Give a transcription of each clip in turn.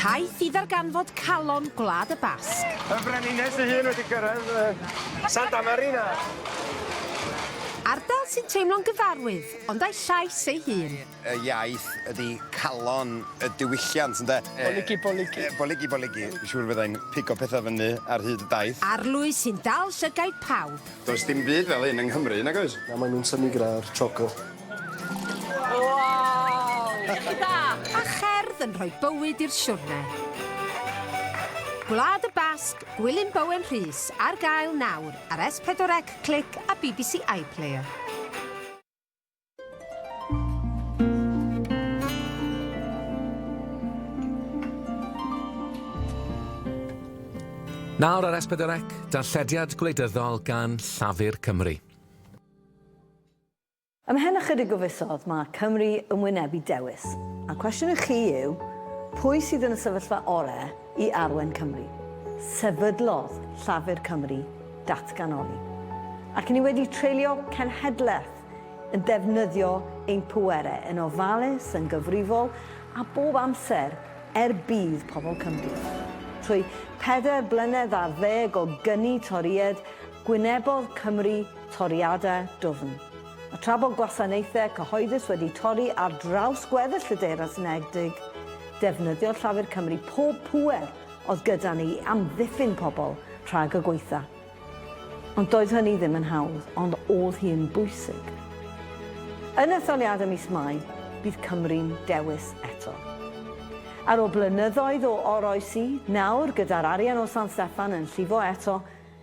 Taith i ddarganfod calon Gwlad y Basg. Y Frenhines ei hun wedi cyrraedd uh, Santa Marina. Ardal sy'n teimlo'n gyfarwydd, ond a'i llais ei hun. Y iaith ydy calon y diwylliant, ynde? Boligi, boligi. Boligi, boligi. Siŵr fyddai'n pigo pethau fyny ar hyd y daith. Arlwy sy'n dal llygaid pawb. Does dim byd fel hyn yng Nghymru, nag oes? Na, maen nhw'n synnu gyda'r choco. Waw! Canu da! A cherdd yn rhoi bywyd i'r siwrne. Gwlad y Basg, Gwilym Bowen Rhys, ar gael nawr ar S4 C Click a bbc iPlayer. Nawr ar S4 C, darllediad gwleidyddol gan Llafur Cymru. Ymhen ychydig o fisoedd mae Cymru yn wynebu dewis, a'r cwestiwn i chi yw, pwy sydd yn y sefyllfa orau i arwain Cymru? Sefydlodd Llafur Cymru datganoli, ac ni wedi treulio cenhedlaeth yn defnyddio ein pwerau yn ofalus, yn gyfrifol a bob amser er budd pobl Cymru. Trwy pedair blynedd ar ddeg o gyni Torïaid Gwynebodd Cymru toriadau dwfn. A tra bod gwasanaethau cyhoeddus wedi torri ar draws gweddill y Deyrnas Unedig, defnyddiodd Llafur Cymru pob pŵer oedd gyda ni i amddiffyn pobl rhag y gwaetha. Ond doedd hynny ddim yn hawdd, ond oedd hi'n bwysig. Yn etholiadau mis Mai, bydd Cymru'n dewis eto. Ar ôl blynyddoedd o oroesi, nawr gyda'r arian o San Steffan yn llifo eto,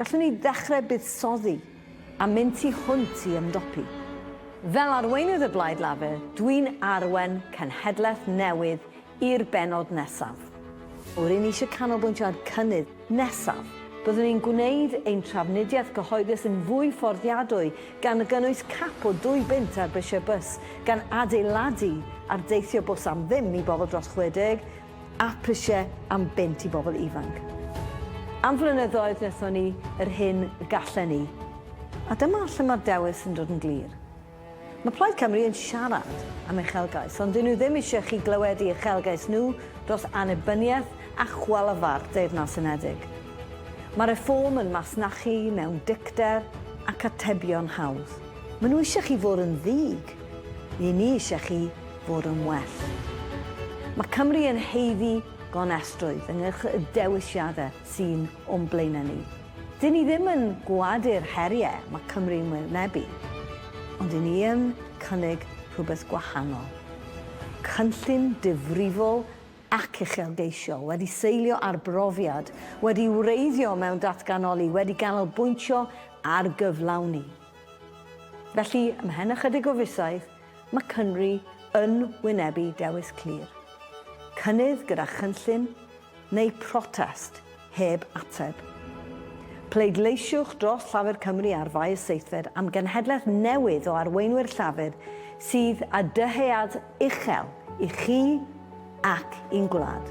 Gallwn ni ddechrau buddsoddi a mynd tu hwnt i ymdopi. Fel arweinydd y Blaid Lafur, dwi'n arwain cenhedlaeth newydd i'r bennod nesaf. O, ry'n ni eisiau canolbwyntio ar cynnydd. Nesaf, byddwn ni'n gwneud ein trafnidiaeth gyhoeddus yn fwy fforddiadwy, gan gynnwys cap o dwy bunt ar brisiau bws, gan adeiladu ar deithio bws am ddim i bobl dros 60, a phrisiau am bunt i bobl ifanc. Am flynyddoedd wnaethon ni yr hyn y gallen ni, a dyma lle mae'r dewis yn dod yn glir. Mae Plaid Cymru yn siarad am uchelgais, ond 'dyn nhw ddim eisiau chi glywed i uchelgais nhw dros annibyniaeth a chwalafa'r Deyrnas Unedig. Mae Reform yn masnachu mewn dicter ac atebion hawdd. Maen nhw eisiau chi fod yn ddig, 'yn ni eisiau chi fod yn well. Mae Cymru yn haeddu gonestrwydd ynghylch y dewisiadau sy'n o'n blaenau ni. Dŷn ni ddim yn gwadu'r heriau mae Cymru'n wynebu, ond dŷn ni yn cynnig rhywbeth gwahanol. Cynllun difrifol ac uchelgeisiol, wedi seilio ar brofiad, wedi wreiddio mewn datganoli, wedi ganolbwyntio ar gyflawni. Felly, ymhen ychydig o fisoedd, Mae Cymru yn wynebu dewis clir, cynnydd gyda chynllun neu protest heb ateb. Pleidleisiwch dros Llafur Cymru ar faes seithfed am genhedlaeth newydd o arweinwyr Llafur sydd â dyhead uchel i chi ac i'n gwlad.